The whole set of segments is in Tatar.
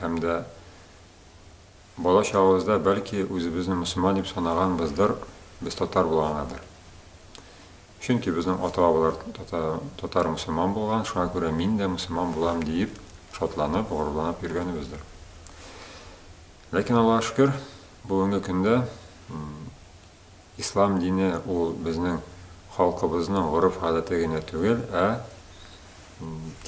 һәм дә бала чагыбызда бәлки үзебезне мөселман дип санаганбыздыр, без татар булгангадыр. Чөнки безнең ата-бабалар татар мөселман булган, шуңа күрә мин дә мөселман булам диеп шатланып, горурланып йөргәнебездер. Ләкин Аллаһ шөкер, бүгенге көндә Ислам дине ул безнең халкыбызның гореф-гадәте генә түгел, ә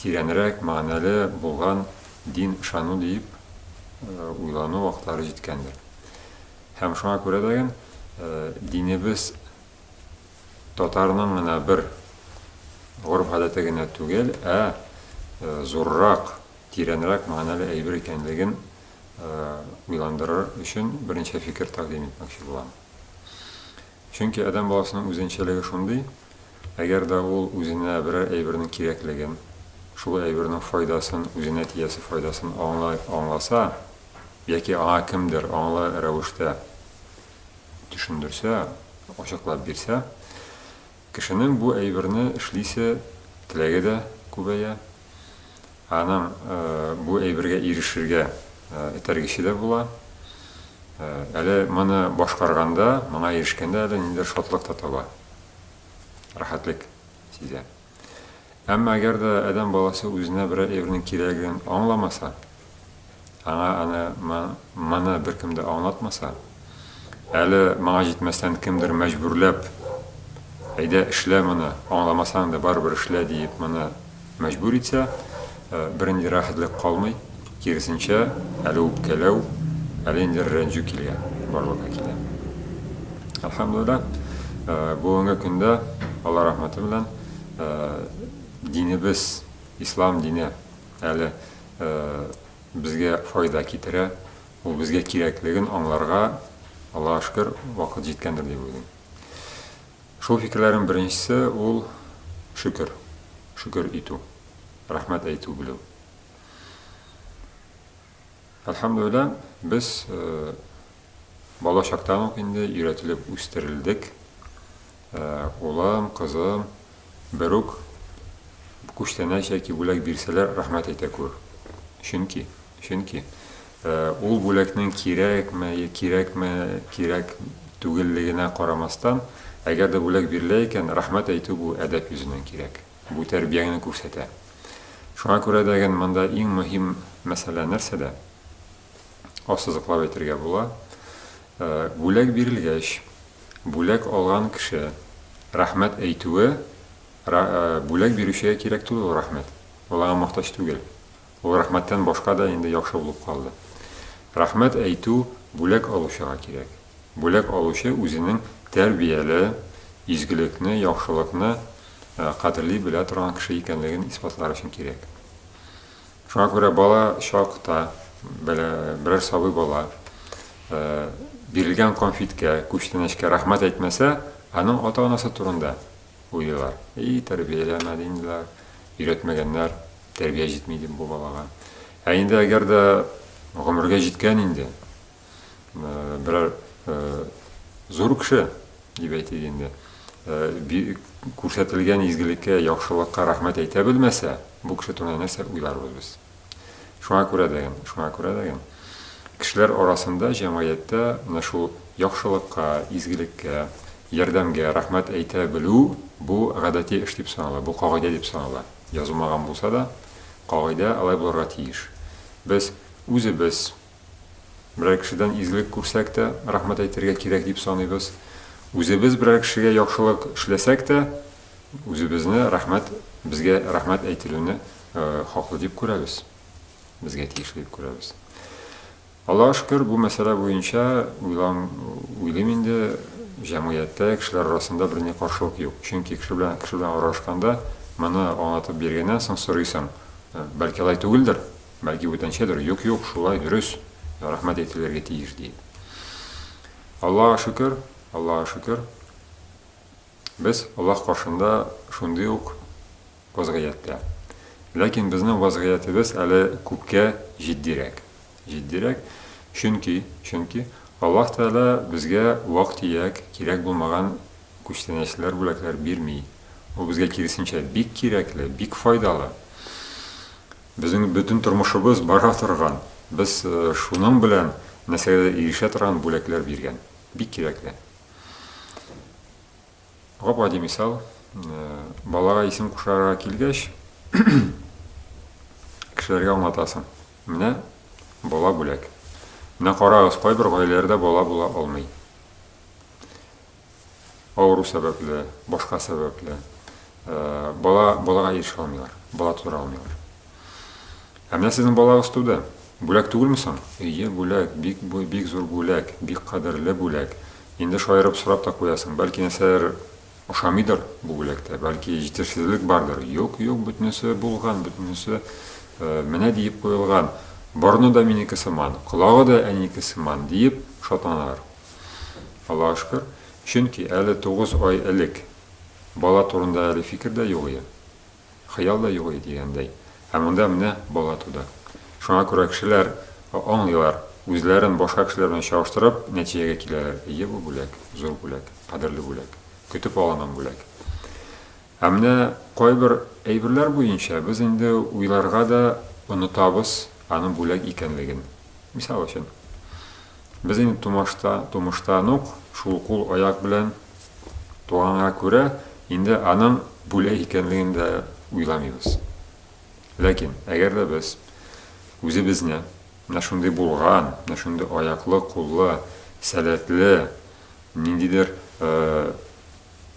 тирәнрәк мәгънәле булган дин ышану диеп уйлану вакытлары җиткәндер. Һәм шуңа күрә дә ген динебез татарның гына бер гореф-гадәте генә түгел, ә зуррак, тирәнрәк мәгънәле әйбер икәнлеген уйландырыр өчен берничә фикер тәкъдим итмәкче булам. Чөнки адәм баласының үзенчәлеге шундый, әгәр дә ул үзенә берәр әйбернең кирәклеген, шул әйбернең файдасын, үзенә тиясе файдасын аңлый, аңласа яки аңа кемдер аңлы рәвештә төшендерсә, ачыклап бирсә, Кешенең бу әйберне эшлисе теләге дә күбәя, аның бу әйбергә ирешергә этәргече дә була. Әле моны башкарганда, моңа ирешкәндә әле ниндидер шатлык та таба, рәхәтлек сизә. Әмма әгәр дә адәм баласы үзенә берәр әйбернең кирәген аңламаса, Аңа аны моны беркем дә аңлатмаса, әле моңа җитмәстән кемдер мәҗбүрләп, әйдә эшлә моны, аңламасаң да барыбер эшлә диеп моны мәҗбүр итсә, бернинди рәхәтлек калмый, киресенчә, әле үпкәләү, әле инде рәнҗү килә, барлыкка килә. Әлхәмдүлилләһ, бүгенге көндә Алла рәхмәте белән динебез, ислам дине, Әле безгә файда китерә, ул безгә кирәклеген аңларга, Аллага шөкер, вакыт җиткәндер дип уйлыйм. Шул фикерләрнең беренчесе ул шөкер, шөкер итү, рәхмәт әйтү белү. Әлхәмдүлилла, без бала чактан ук инде өйрәтелеп үстерелдек. Улым, кызым, берүк күчтәнәч яки бүләк бирсәләр, рәхмәт әйтә күр. Чөнки, чөнки ул бүләкнең кирәкме, кирәкме, кирәк түгеллегенә карамастан, әгәр дә бүләк бирелә икән, рәхмәт әйтү бу әдәп йөзеннән кирәк. Бу тәрбияңне күрсәтә. Шуңа күрә дә ген монда иң мөһим мәсьәлә нәрсәдә? ассызыклап әйтергә була. Э, бүләк бирелгәч, бүләк алган кеше рәхмәт әйтүе э, бүләк бирүчегә кирәк түгел ул рәхмәт. Ул аңа мохтаҗ түгел. Ул рәхмәттән башка да инде яхшы булып калды. Рәхмәт әйтү бүләк алучыга кирәк. Бүләк алучы үзенең тәрбияле, изгелекне, яхшылыкны э, кадерли белә торган кеше икәнлеген исбатлар өчен кирәк. Шуңа күрә бала чакта, берәр сабый бала бирелгән конфеткә, күчтәнәчкә рәхмәт әйтмәсә, аның ата-анасы турында уйлыйлар. И, тәрбияләмәде инде, өйрәтмәгәннәр, тәрбия җитми дип бу балага. Ә инде әгәр дә гомергә җиткән инде, берәр зур кеше дип әйтик инде күрсәтелгән изгелеккә яхшылыкка рәхмәт әйтә белмәсә бу кеше турында нәрсә уйларбыз без шуңа күрә дә шуңа күрә дә кешеләр арасында җәмгыятьтә менә шул яхшылыкка изгелеккә ярдәмгә рәхмәт әйтә белү бу гадәти эш дип санала бу кагыйдә дип санала язылмаган булса да кагыйдә алай булырга тиеш без үзебез Берәр кешедән изгелек күрсәк тә, рәхмәт әйтергә кирәк дип саныйбыз. Үзебез берәр кешегә яхшылык эшләсәк тә, үзебезне рәхмәт, безгә рәхмәт әйтелүне хаклы дип күрәбез, безгә тиешле дип күрәбез. Аллага шөкер, бу мәсьәлә буенча уйлам, уйлыйм инде, җәмгыятьтә, кешеләр арасында берни каршылык юк. Чөнки кеше белән кеше белән аралашканда, моны аңлатып биргәннән соң сорыйсың, бәлки алай түгелдер, Бәлки бүтәнчәдер, юк, юк, шулай, дөрес, рәхмәт әйтелергә тиеш, ди. Аллага шөкер, Аллага шөкер, без Аллаһ каршында шундый ук вазгыятьтә. Ләкин безнең вазгыятебез әле күпкә җитдирәк. Җитдирәк, чөнки, чөнки Аллаһ Тәгалә безгә вак-төяк, кирәк булмаган күчтәнәчләр, бүләкләр бирми. Ул безгә, киресенчә, бик кирәкле, бик файдалы. Безнең бөтен тормышыбыз бара торган, без шуның белән нәрсәгә дә ирешә торган бүләкләр биргән. Бик кирәкле. Гап-гади мисал, балага исем кушарга килгәч, кешеләргә аңлатасың. Менә бала бүләк. Менә карагыз, кайбер гаиләләрдә бала була алмый. авыру сәбәпле, башка сәбәпле бала балага ирешә алмыйлар, бала тудыра алмыйлар. Ә менә сезнең балагыз туды. Бүләк түгелме соң? Ие, бүләк, бик бик зур бүләк, бик кадерле бүләк. Инде шаярып сорап та куясың, бәлки нәрсәләр ошамыйдыр бу бүләктә, бәлки җитешсезлек бардыр. Юк, юк, бөтенесе булган, бөтенесе менә диеп куелган. Борны да минеке сыман, колагы да әнинеке сыман диеп шатланалар. Аллага шөкер, чөнки әле тугыз ай элек бала турында әле фикер дә юк ие, хыял да юк ие дигәндәй, ә монда менә бала туды. Шуңа күрә кешеләр аңлыйлар, үзләрен башка кешеләр белән чагыштырып, нәтиҗәгә киләләр, ие бу бүләк, зур бүләк, кадерле бүләк, көтеп алынган бүләк. Ә менә кайбер әйберләр буенча без инде уйларга да онытабыз аның бүләк икәнлеген. Мисал өчен, без инде тумашта, тумыштан ук шул кул-аяк белән туганга күрә, инде аның бүләк икәнлеген дә уйламыйбыз. Ләкин, әгәр дә без үзебезне менә шундый булган, менә шундый аяклы, куллы, сәләтле, ниндидер, э,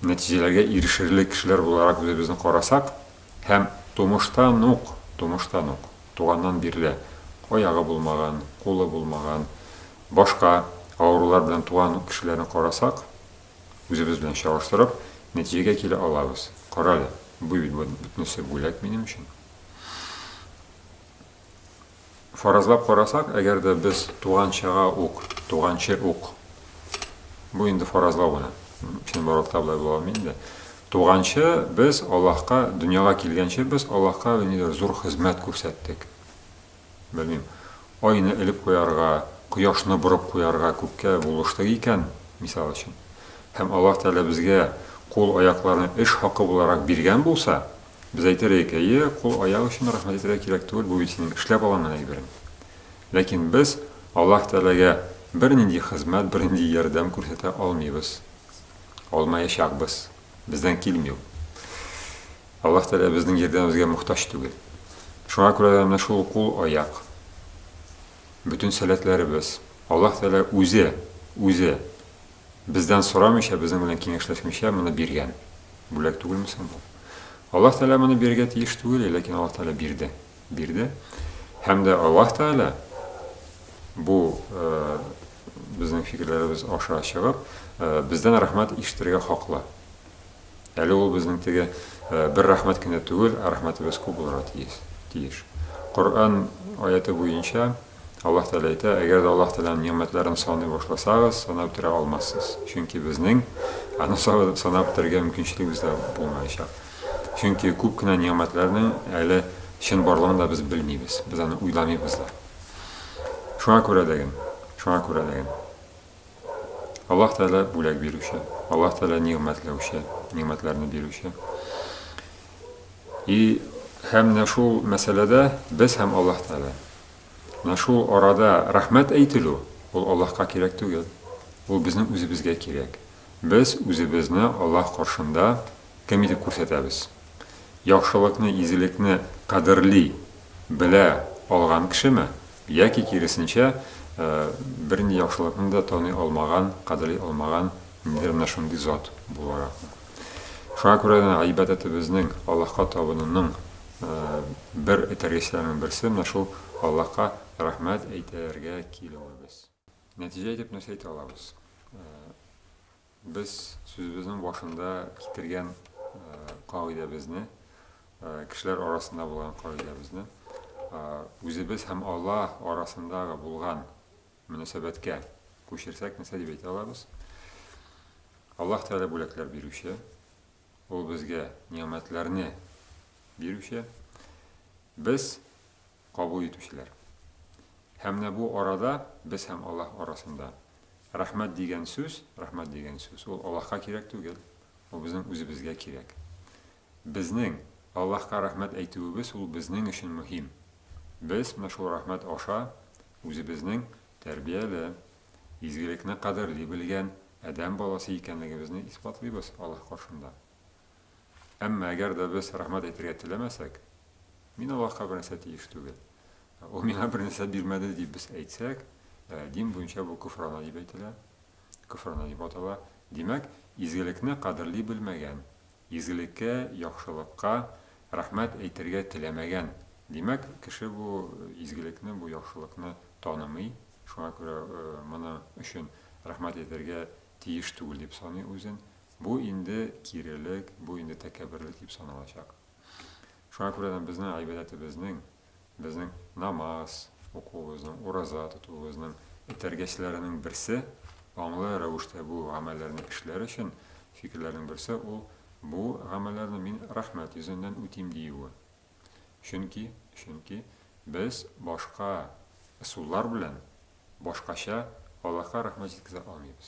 нәтиҗәләргә ирешерлек кешеләр буларак үзебезне карасак һәм тумыштан ук, тумыштан ук, туганнан бирле аягы булмаган, кулы булмаган, башка авырулар белән туган кешеләрне карасак, үзебез белән чагыштырып, нәтиҗәгә килә алабыз. Карале, бу бит бөтенесе бүләк минем өчен. Фаразлап карасак, әгәр дә без туганчага ук, туганчы ук, бу инде фаразлау гына, чын баракта болай була алмый инде. Туганчы без Аллаһка, дөньяга килгәнче без Аллаһка ниндидер зур хезмәт күрсәттек. Белмим, айны элеп куярга, кояшны борып куярга күккә булыштык икән, мисал өчен. Һәм Аллаһ Тәгалә безгә кул-аякларны эш хакы буларак биргән булса, Без әйтер идек, әйе, кул-аяк өчен рәхмәт әйтергә кирәк түгел, бу бит синең эшләп алынган әйберең. Ләкин без Аллаһ Тәгаләгә бернинди хезмәт, бернинди ярдәм күрсәтә алмыйбыз. Алмаячакбыз. Бездән килми ул. Аллаһ Тәгалә безнең ярдәмебезгә мохтаҗ түгел. Шуңа күрә дә менә шул кул-аяк, бөтен сәләтләребез, Аллаһ Тәгалә үзе, үзе Бездән сорамыйча, безнең белән киңәшләшмичә моны биргән. Бүләк түгелме соң бу? Аллаһ Тәгалә моны бирергә тиеш түгел иде, ләкин Аллаһ Тәгалә бирде. Бирде. Һәм дә Аллаһ Тәгалә бу э, безнең фикерләребез аша чыгып, э, бездән рәхмәт ишетергә хаклы. Әле ул безнең теге бер рәхмәт кенә түгел, ә рәхмәтебез күп булырга тиеш. Тиеш. Коръән аяты буенча Аллаһ Тәгалә әйтә, әгәр дә Аллаһ Тәгаләнең нигъмәтләрен саный башласагыз, санап бетерә алмассыз. Чөнки безнең аны санап бетерергә мөмкинчелегебез дә булмаячак. Чөнки күп кенә нигъмәтләрнең әле чын барлыгын да без белмибез. Без аны уйламыйбыз да. Шуңа күрә дәген, шуңа күрә дәген. Аллаһ Тәгалә бүләк бирүче, Аллаһ Тәгалә нигъмәтләүче, нигъмәтләрне бирүче. И һәм менә шул мәсьәләдә без һәм Аллаһ Тәгалә. Менә шул арада рәхмәт әйтелү ул Аллаһка кирәк түгел. Ул безнең үзебезгә кирәк. Без үзебезне Аллаһ каршында кем итеп күрсәтәбез? Яхшылыкны, изелекне кадерли, белә алган кешеме? Яки, киресенчә, бернинди яхшылыкны да таный алмаган, кадерли алмаган ниндидер менә шундый зат буларакмы? Шуңа күрә дә гыйбадәтебезнең, Аллаһка табынуның бер этәргечләренең берсе менә шул Аллаһка рәхмәт әйтергә килүебез. Нәтиҗә итеп нәрсә әйтә алабыз? Без сүзебезнең башында китергән кагыйдәбезне, кешеләр арасында булган кагыйдәбезне үзебез һәм Алла арасындагы булган мөнәсәбәткә күчерсәк, нәрсә дип әйтә алабыз? Аллаһ Тәгалә бүләкләр бирүче, ул безгә нигъмәтләрне бирүче. Без кабул итүчеләр. Һәм менә бу арада, без һәм Аллаһ арасында, рәхмәт дигән сүз, рәхмәт дигән сүз, ул Аллаһка кирәк түгел, ул безнең үзебезгә кирәк. Безнең Аллаһка рәхмәт әйтүебез ул безнең өчен мөһим. Без менә шул рәхмәт аша үзебезнең тәрбияле, изгелекне кадерли белгән адәм баласы икәнлегебезне исбатлыйбыз Аллаһ каршында. Әмма әгәр дә без рәхмәт әйтергә теләмәсәк, мин Аллаһка бернәрсә тиеш түгел, ул миңа бернәрсә бирмәде дип без әйтсәк, дин буенча бу көфрана дип әйтелә, көфрана дип атала. Димәк, изгелекне кадерли белмәгән, изгелеккә, яхшылыкка рәхмәт әйтергә теләмәгән, димәк, кеше бу изгелекне, бу яхшылыкны танымый, шуңа күрә моны өчен рәхмәт әйтергә тиеш түгел дип саный үзен, Бу инде кирелек, бу инде тәкәбберлек дип саналачак. Шуңа күрә дә безнең гыйбадәтебезнең, безнең намаз укуыбызның, ураза тотуыбызның этәргечләренең берсе, аңлы рәвештә бу гамәлләрне эшләр өчен фикерләрнең берсе ул, бу гамәлләрне мин рәхмәт йөзеннән үтим диюе. Чөнки, чөнки без башка ысуллар белән, башкача Аллаһка рәхмәт җиткезә алмыйбыз.